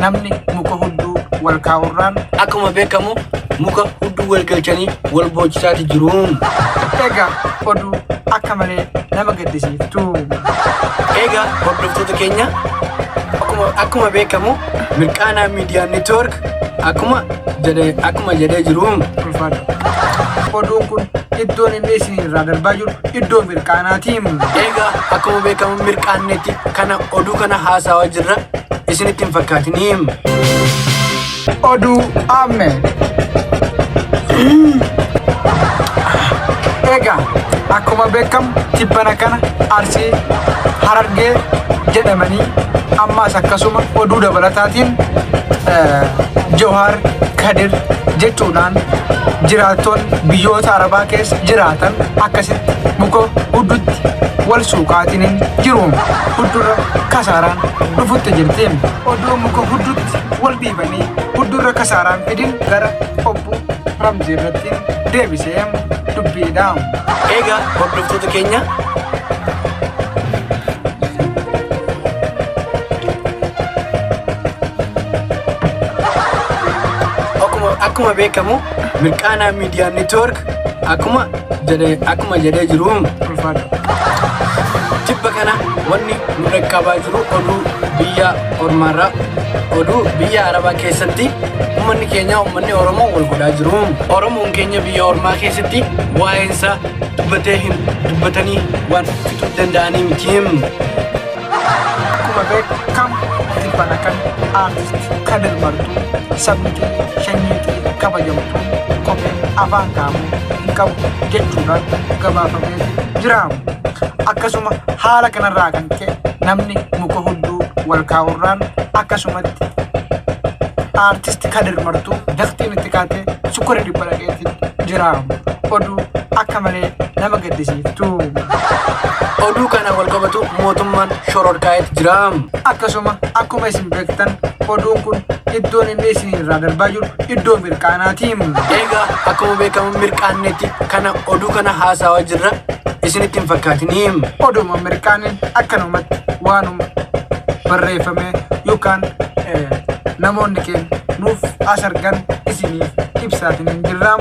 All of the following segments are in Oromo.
Namni muka hudduu wal kaa'urraan akkuma beekamu muka hudduu wal galchanii wal boochisaati jiru. Egaa oduu akka malee nama gaddisiiftu. Egaa hordoftoota keenya akkuma akkuma beekamu mirqaanaa miidiyaa network akkuma jedhee akkuma jedhee jiru. Ulfaadha. Oduun kun iddoon inni isin irraa darbaa jiru iddoo mirqaanaati. Egaa akkuma beekamu mirqaannetti kana oduu kana haasawaa jirra isinitti hin fakkaatiniim. Oduu amme. Egaa akkuma beekamu tibbana kana arsii harargee jedhamanii ammaas akkasuma oduu dabalataatiin eh, Jawaar Kadir jechuudhaan jiraattoonni biyyoota arabaa keessa jiraatan akkasitti muka huddutti wal suuqaatiniin jiru. huddurra kasaaraan dhufutti jirti. Oduu muka huddutti wal dhiibanii huddurra kasaaraan fidin gara obbo Ramzii irratti deebisee dubbiidha. Egaa hordoftoota keenya akkuma beekamu Mirqaanaa Miidiyaa Neetwoork akkuma jedhee akkuma jedhee jiru ulfaadha. Tibba kana wanni nu dhaqqabaa jiru oduu biyya ormaarraa oduu biyya arabaa keessatti uummanni keenya uummanni oromoo wal godhaa jiru. Oromoon keenya biyya ormaa keessatti waa'eensa dubbatee hin dubbatanii waan fixuu danda'anii miti. Akkuma beekamu tibbana kan aartist Kadir Martuu sabni keenya shanyii fi kabajamtuu kophee afaan kaa'amuu hin qabu jechuudhaan gabaafamee jiraamu. Akkasuma haala kanarraa kan ka'e namni muka hudduu wal kaa'urraan akkasumatti aartist Kadir Martuu daftiin itti kaatee sukkura dhibba dhaqeetti jiraamu. Oduu akka malee nama gaddisiiftu. Oduu kana wal qabatu mootummaan shororkaa'eet jira. Akkasuma akkuma isin beektan oduun kun iddoon inni isin irraa darbaa jiru iddoo mirqaanaati. Egaa akkuma beekamu mirqaannetti kana oduu kana haasawaa jirra isinitti hin fakkaatiniim. Oduma mirqaanin akkanumatti waanuma barreeffame yookaan eh, namoonni keenya nuuf as argan isiniif ibsaatiin hin jirraam.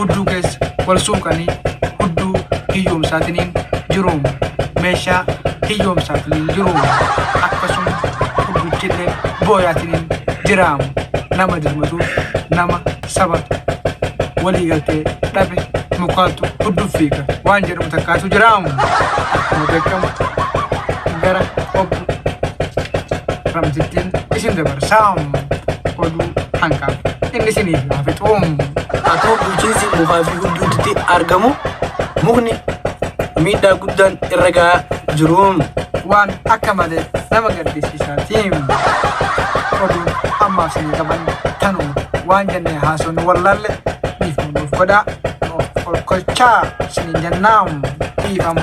hudduu keessa wal suuqanii hudduu hiyyoomsaatiniin jiruum meeshaa hiyyoomsaatiniin jiruum akkasuma hudduchillee booyaatiniin jiraam nama dirmatuuf nama saba walii galtee dhabe mukaatu hudduuf fiiga waan jedhamu takkaatu jiraam akkuma beekamu gara obbo ramtittiin isin dabarsaam oduu hanqaaf. inni siniif haa fixuum. Atuu bulchiinsi moofaa fi gudduutti argamu mukni miidhaa guddaan irra gahaa jiruum. Waan akka malee nama gaddisiisaatiim. Oduu ammaaf sinii qaban tanuma waan jennee haasofnu wallaalle dhiifama nuuf godhaa. Of kolkolchaa siniin jennaam dhiifama.